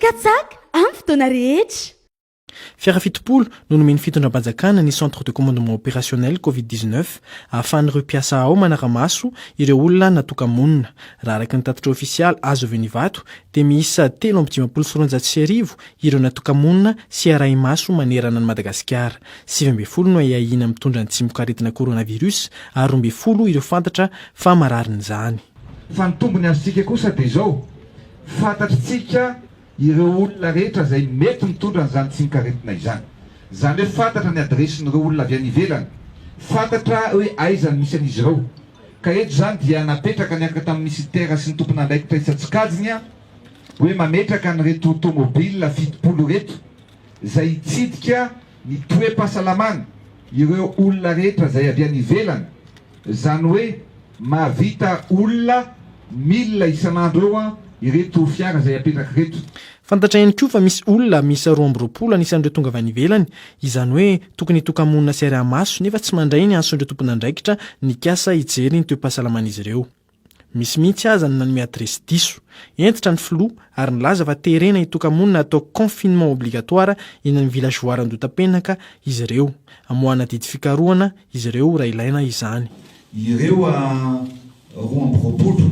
Katsaka amin'ny fotoana rehetra. Fiara fitopolo no nomen'ny fitondram-panjakana ny Centre de Commandement Opérationnel Covid dix neuf ahafahan'ireo mpiasa ao manara-maso ireo olona natoka-monina. Raha araka ny tatitra ofisialy azo avy any Ivato dia miisa telo amby dimampolo sy roanjato sy arivo ireo natoka-monina sy arahi-maso manerana an'i Madagasikara. Sivy ambin'ny folo no ahiahiana mitondra ny tsimokaretina coronavirus ary roa ambin'ny folo ireo fantatra fa mararin'izany. Fa ny tombony azontsika kosa dia izao. Fantatr'tsika ireo olona rehetra izay mety mitondra an'izany tsimok'aretina izany. Izany hoe fantatra ny adiresin'ireo olona avy any ivelany, fantatra hoe aiza no misy an'izy ireo. Ka eto izany dia napetraka niaraka tamin'ny minisitera sy ny tompon'andraikitra isan-tsokajiny hoe mametraka an'ireto tomobil fitopolo ireto izay hitsidika ny toe-pahasalamana ireo olona rehetra izay avy any ivelany Zany hoe mahavita olona mille isan'andro eo an ireto fiara izay apetraka ireto. Fantatra ihany koa fa misy olona miisa roa amby roapolo anisan'ireo tonga avy any ivelany, izany hoe tokony hitoka-monina sy ariamaso nefa tsy mandray ny antson'ireo tompon'andraikitra nikasa hijery ny toe-pahasalaman'izy ireo. Misy mihitsy aza ny nanome adiresy diso. Hentitra ny filoha ary nilaza fa terena hitoka-monina hatao confinement obligatoire eny amin'ny villageoire Andotapenaka izy ireo. Hamoahana didy fikarohana izy ireo raha ilaina izany. Ireo a roa amby roapolo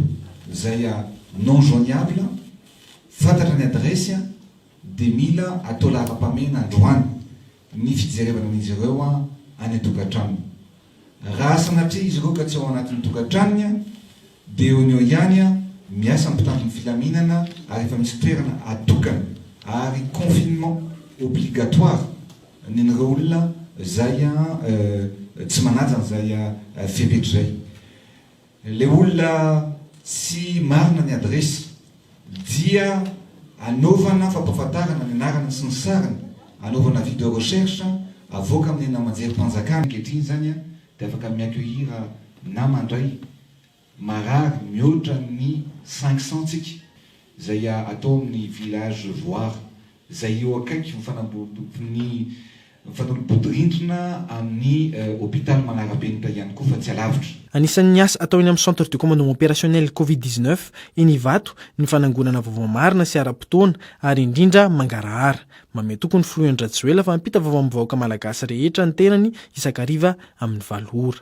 izay a non joigniable, fantatra ny adiresy a, dia mila atao laharam-pahamehana androany. ny fijerevana an'izy ireo any an-tokantranony. Raha sanatria izy ireo ka tsy ao anatin'ny tokantranony dia eo no eo ihany miasa ny mpitandro ny filaminana ary efa misy toerana atokana ary confinement obligatoire ny an'ireo olona izay tsy manaja an'izay fepetra izay. Ilay olona tsy marina ny adiresy dia anaovana fampahafantarana ny anarany sy ny sariny, anaovana video recherche, avoaka amin'ny namanjerim-panjakana ankehitriny izany an, dia afaka mi-accueillir na mandray marary mihoatra ny cinq cents tsika izay atao amin'ny village voire izay eo akaiky ny fanambodim-bodirindrina amin'ny hopitaly manara-penitra ihany koa fa tsy alavitra. Anisan'ny asa atao eny amin'ny Centre de Commandement Opérationnel Covid dix-neuf eny Ivato ny fanangonana vaovao marina sy ara-potoana ary indrindra mangarahara. Mamehy tokoa ny Filoha Andry Rajoelina fa hampita vaovao amin'ny vahoaka malagasy rehetra ny tenany isan-kariva amin'ny valo ora.